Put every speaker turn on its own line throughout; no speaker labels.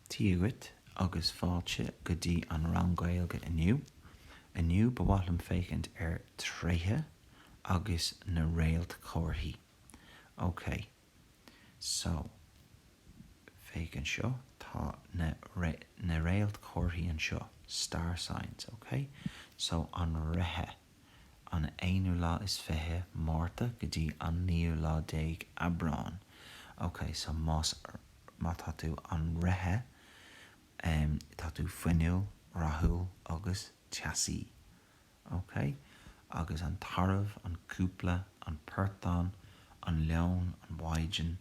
Dia dhuit agus fáilte go dtí an rang Gaeilge inniu. Inniu ba mhaith liom féachaint ar tréithe agus na réaltchomharthaí. Ok, so, féach anseo, tá na, na réaltchomharthaí anseo, star signs, ok? So, an Reithe. an aonú lá is fiche Márta go dtí an naoú lá déag Aibreán. OK, so más, má tá tú an reithe, em, tá tú fuinniúil, rathúil agus teasaí. OK? Agus an tarbh, an cúpla, an portán, an leon, an mhaighdean,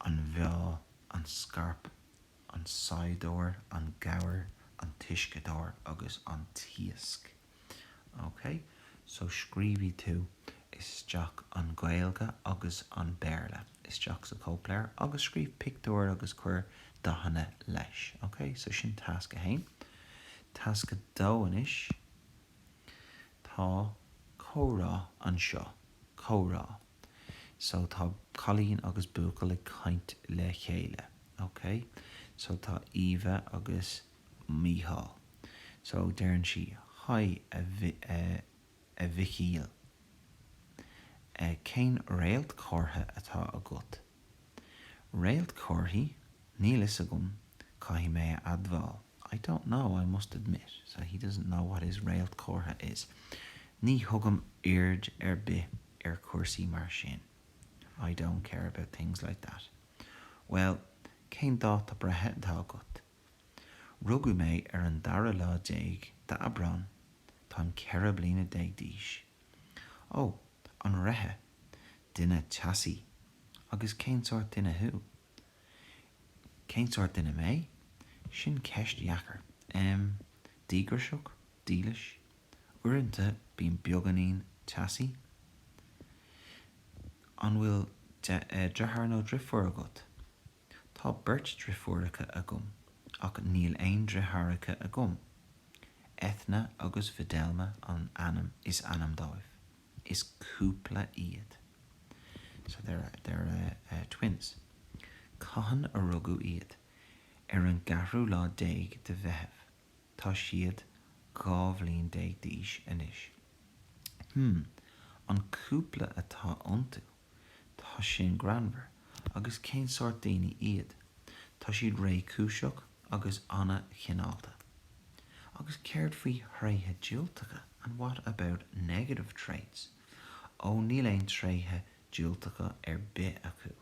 an mheá, an scairp, an saighdeoir, an gabhar, an t-uisceadóir agus an t-iasc. OK, so scríobhaidh tú isteach an Gaeilge agus an Béarla isteach sa chóipleabhar agus scríobh pictiúir agus cuir dathanna leis. OK, so sin tasc a haon. Tasc a dó anois, tá comhrá anseo, comhrá. So tá cailín agus buachaill ag caint le chéile. OK, so tá Eva agus. Mícheál. So deireann sí Hi a a Mhichíl, eh cén réaltchomhartha atá agat? Réaltchomharthaí? Níl 'fhios agam, caithfidh mé a admháil, I don't know, I must admit, so he doesn't know what his réaltchomhartha is, Ní thugaim aird ar bith ar chúrsaí mar sin, I don't care about things like that. Bhuel, cén dáta breithe atá agat? Rugadh mé ar an dara lá déag d'Aibreán. Táim ceithre bliana déag d'aois. Ó, an reithe. Duine teasaí. Agus cén sórt duine thú? Cén sórt duine mé? Sin ceist dheacair. Em, díograiseach, dílis. Uaireanta bím beagáinín teasaí. An bhfuil deartháir nó deirfiúr agat? Tá beirt deirfiúracha agam, ach níl aon deartháireacha agam. Eithne agus Fidelma an ainm is ainm dóibh. Is cúpla iad. So they're a, they're a, a twins. Cathain a rugadh iad? Ar an gceathrú lá déag de Mheitheamh. Tá siad dhá bhliain déag d'aois anois. Hm, an cúpla atá iontu? Tá sin greannmhar, agus cén sórt daoine iad? Tá siad réchúiseach agus an-chineálta. Agus céard faoi thréithe diúltacha? And what about negative traits? Ó, níl aon tréithe diúltacha ar bith acu.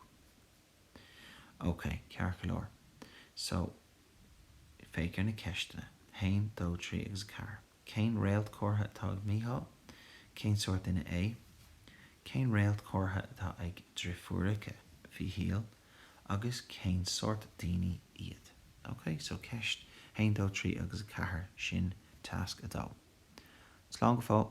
Ok, ceart go leor. So, féach ar na ceisteanna, haon, dó, trí agus a ceathair. Cén réaltchomhartha atá ag Mícheál? Cén sórt duine é? Cén réaltchomhartha atá ag driféaracha Mhíchíl agus cén sórt daoine iad? OK, so ceist a haon, dó, trí agus a ceathair, sin tasc a dó. Slán go fóill!